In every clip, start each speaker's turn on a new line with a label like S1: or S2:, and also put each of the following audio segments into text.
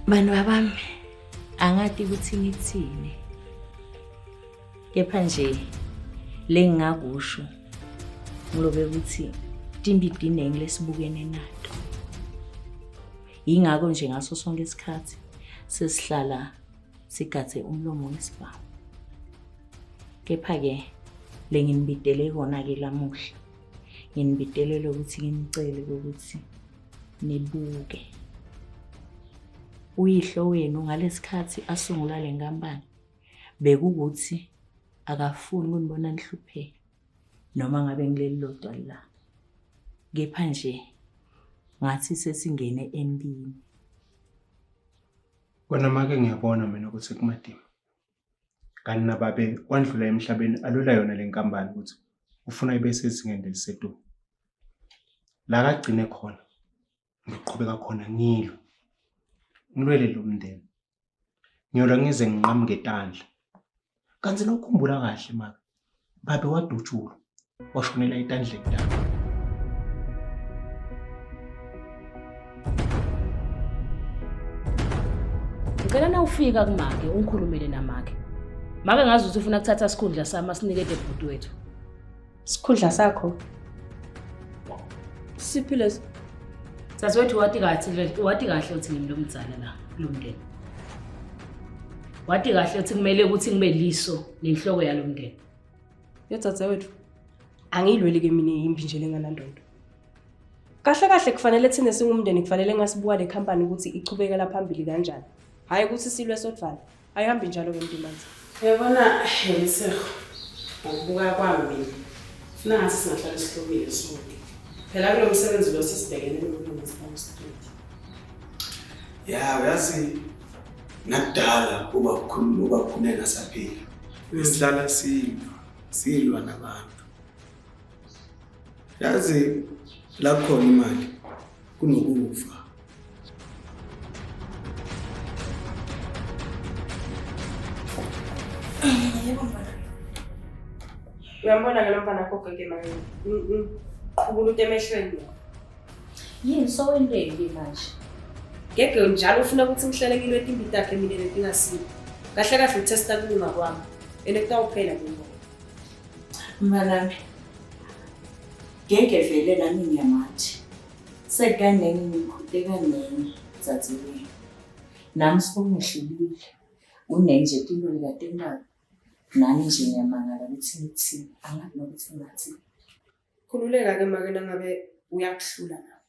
S1: Bantu babami angati ukuthi ngithini. Kepha nje lengingakusho ngilobe ukuthi timbidinengi lesibukene nato. Yingakho nje ngaso sonke isikhathi sesihlala sigathe umlomo wesibhamu. Kepha ke lenginibidele kona ke lamuhla nginibitelele ukuthi nginicele ukuthi nibuke uyihlo wenu ngalesikhathi asungula le nkampani bekukuthi akafuni kunibona nihlupheka noma ngabe ngileli lodwa la kepha nje ngathi sesingene empini
S2: kona make ngiyabona mina ukuthi kumadima kanti nababe wandlula emhlabeni alwela yona le nkampani ukuthi ufuna ibe sezingeni lelisedumo la kagcine khona ngiqhubeka khona ngilo ngilwele lo mndeni ngiyolwa ngize nginqamuke etandla kanti nokukhumbula kahle maka babe wadutshulwa washonela etandleni lakho
S3: ngicela na ufika kumake ungikhulumele namake make ngazi ukuthi ufuna kuthatha sikhundla sami asinikede bhuti wethu sikhundla
S4: sakho
S3: siphi lesi sasewethu wati kahle wati kahle uthi ngimi lomdzana la kulomndeni wati kahle uthi kumele ukuthi ngibe liso nenhloko yalo mndeni yedzadzewethu
S4: angiyilweli ke mina yimbi nje lenganandondo kahle kahle kufanele thina singumndeni kufanele ngasibuka le company ukuthi ichubekela phambili kanjani hhayi ukuthi silwe sodvana ayihambi njalo ke mntumanzi yabona
S5: yeliseho ngokubuka kwami mina funa ngathi singahlale sihlukile sonke phela kulo msebenzi lo sesibhekene nokulungisa umstreet
S6: ya uyazi Nakudala uba ukhuluma uba ukhuleka saphila. Besidlala silwa, silwa nabantu. Yazi la khona imali kunokufa.
S4: Yebo mfana. Uyambona ke lo mfana akho gege manje. Qhubula utemehlweni.
S3: Yini sowendeni ke manje? Ngeke
S4: njalo ufuna ukuthi ngihlale ngilwete impilo yakhe mina letingasile. Kahle kahle utesta kulunga kwami. Ene kutawuphela ke ngoba.
S1: Mnganami. Ngeke vele nami ngiyamathi. Sekukangeni ngikhute kangeni dzadzewethu. Nami sibongehlulile. Unenje tinto likatembako. Nami nje ngiyamangala ukuthi ngithini. Angazi nokuthi ngathini.
S4: Khululeka ke make nangabe uyakuhlula nawe.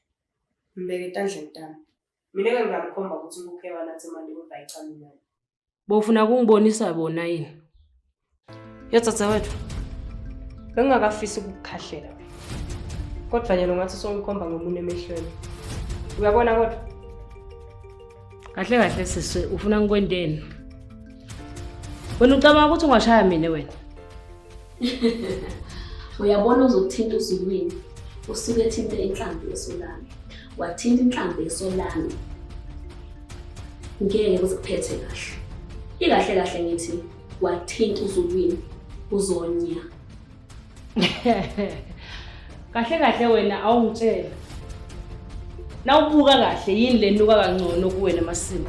S4: Mbeke etandleni tami. Mina ke ngingamkhomba ukuthi ukuphe wena athi manje kodwa ayicami nayo. Bofuna
S3: kungibonisa bona yini?
S4: Yotsatsa wethu. Bengingakafisi ukukukhahlela. Kodwa nyalo ngathi songikhomba ngomunye emehlweni. Uyabona kodwa? Kahle
S3: kahle siswe ufuna ngikwenteni? Wena ucabanga ukuthi ungashaya mina wena?
S7: uyabona uzokuthinta uzulwini usuke ethinte inhlambi yesolami wathinta inhlambi yesolami ngeke kuziphethe kahle ikahle kahle ngithi wathinta uzulwini uzonya
S3: kahle kahle wena awungitshela nawubuka kahle yini lenuka kangcono kuwena masimo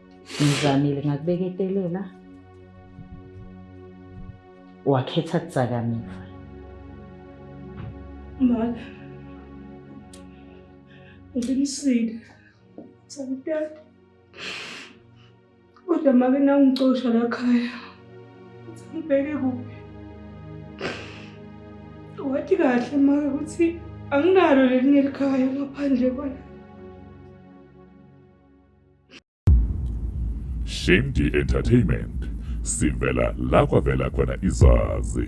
S1: Ngizamile ngakubeketelela. Wakhetha kudzakamiva.
S5: Mama. Uqinisile. Samtata. Kodwa make nawungicosha la khaya. Ngibheke kuphi? Wathi kahle make ukuthi anginalo lelinye likhaya ngaphandle kwala.
S8: Shimdi Entertainment sivela la kwavela khona izazi.